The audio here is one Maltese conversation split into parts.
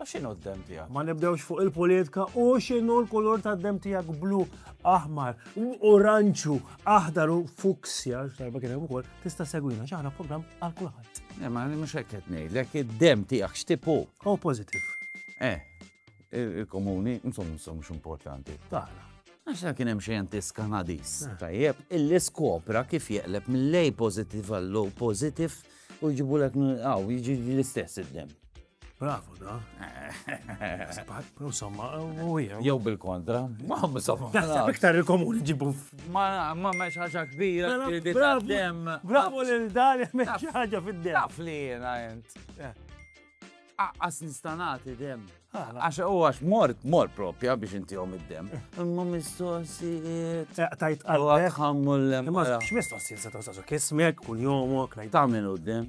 Ma xinu d-dem tijak? Ma nibdewx fuq il-politika u xinu l-kulur ta' d-dem tijak blu, aħmar, oranċu, aħdar u fuksja, xarba kien hemm ukoll, tista' segwina xaħna program għal kulħadd. Eh, ma li mhux hekk qed ngħidlek id-dem tiegħek x'tipu. O positive. Eh, il-komuni, insomma, insomma, mhux importanti. Taħna. Għaxa kien hemm xjentis Kanadis. Eh. Tajjeb, illi skopra kif jeqleb mill-lej positive għall-low positive u jġibu l-ek għaw, jġi l-istess id-dem. Bravo da. Insomma, u jew. Jew bil-kontra. Ma insomma. Naħseb iktar il-komuni ġibu. Ma ma ma ħaġa kbira. Bravo. Bravo lil dan ma ħaġa fid-dem. Taf li jiena int. Eh. Aqqas nistanati dem. Għax u għax mort, mort propja biex inti għom id-dem. Imma mistoqsijiet. Eh, tajt għal. Għammu l-lem. Imma x'mistoqsijiet se tawsasu kismek, kull jomok. Taminu d-dem.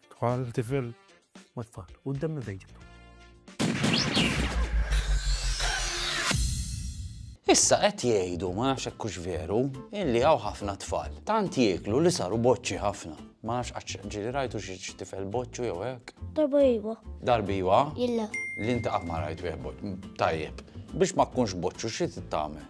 Tfal, tifel. Ma tfal, u d-demmi fejġibu. Issa qed jgħidu ma nafx hekk hux veru illi hawn ħafna tfal. Tant jieklu li saru boċċi ħafna. Ma nafx qatt ġieli rajtu xi tifel boċċu jew hekk. Darba iva. Darba iva? Illa. Li inti qatt ma rajt wieħed boċċu. Tajjeb. Biex ma tkunx boċċu xi tagħmel?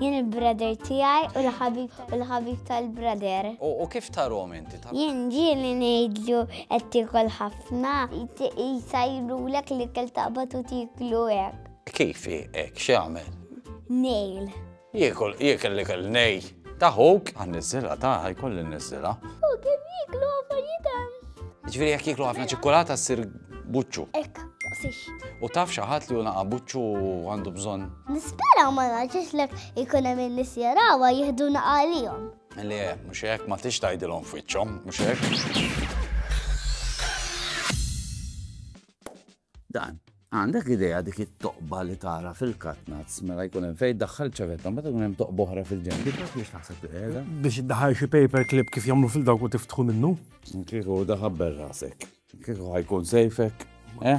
Jien il-brother tiegħi u l-ħabib u l-ħabib tal-brother. U kif tarom inti? Jien ġieli ngħidlu qed tiekol ħafna, jsajrulek li kell taqbad u tieklu hekk. Kif hekk x'jagħmel? Nejl. Jiekol, jiekol li kell nejl. Taħuk? Għan niżilha ta' jkolli niżilha. U kien jieklu affarijiet Ġifieri jekk jieklu ħafna ċikkulata ssir buċċu. Ek, taqsix. U taf xi ħadd li unaqa buċċu għandu bżonn. Nispera ma naġġiex lek ikun hemm in-nies jarawha jieħdu naqalihom. Li eh, mhux hekk ma tix tgħidilhom f'wiċċhom, mhux hekk. Dan. Għandek idea dik it-toqba li tara fil-katnazz mela jkun hemm fejn daħħal ċavetta meta jkun hemm toqba oħra fil-ġenb. Biex taħseb qiegħda. Biex iddaħħal xi paper clip kif jagħmlu fil-dawk u tiftħu minnu. Kieku daħabber rasek. Kieku ħajkun sejfek. Eh?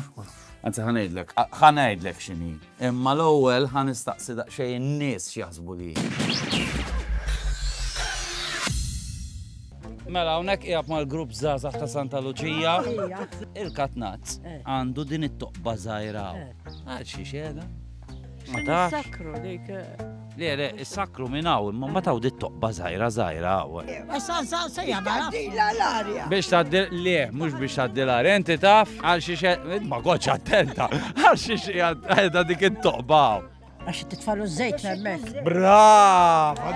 Anzi ħanejdlek, ħanejdlek x'inhi. Imma l-ewwel ħa nistaqsi daqsxejn in-nies x'jaħsbu li hi. Mela hawnhekk qiegħed mal-grupp żgħażagħ ta' Santa Luċija. Il-katnazz eh. għandu din it-toqba żgħira. Eh. Għal xi xena. Ma tafx. Sakru dik. Eh. Le, le, is-sakru minn hawn, imma ma tawdi toqba żgħira żgħira hawn. Issa sa se jagħmel. Dila l-arja. Biex tgħaddi le, mhux biex tgħaddi l-arja, inti taf għal xi xe, ma kontx attenta, għal xi xe għadha dik it-toqba hawn. Għax titfalu żejt hemmhekk. Brava!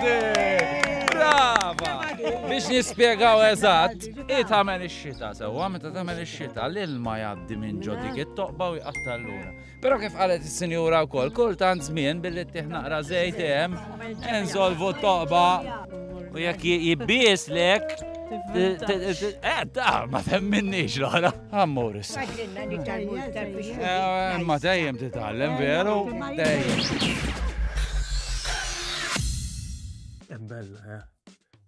Brava! Biex nispjegaw eżatt, i tagħmel ix-xita sewwa meta tagħmel ix-xita l-ilma jgħaddi minn ġo dik it-toqba u jqatta' l-lura. Però kif qalet is-sinjura wkoll, kultant żmien billi ttieħ naqra żejt hemm insolvu t-toqba u jekk jibbies lek Eh, ta' ma temminniex l-ħara. Ammur issa. Eh, ma dejjem titgħallem veru, dejjem. Bella, eh.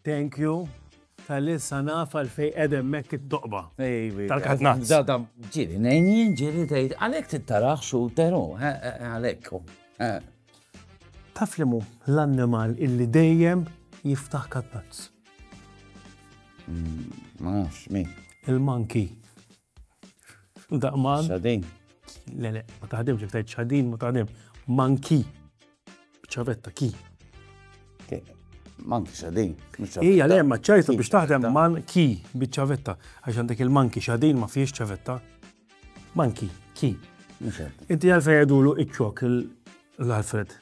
Thank you. Tal-li sa naf għalfej edem mekk it-toqba. Tal-katnat. Da da ġiri, nejnjien ġiri tgħid għalhekk tittaraħ xuteru, għalhekk. Taf li mu l-annimal illi dejjem jiftaħ katnat. Mm, ma nafx min. Il-manki. Daqman. Xadin. Le, le, ma taħdimx, jek tajt xadin, ma taħdim. Manki. ċavetta, ki. Manki xadin. Ija, le, ma ċajtu biex taħdem man ki bieċavetta. Għax għandek il-manki xadin ma fiex ċavetta. Manki, ki. Inti għalfej għedulu iċċok l-Alfred.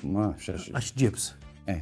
Ma, xax. Għax ġibs. Eh.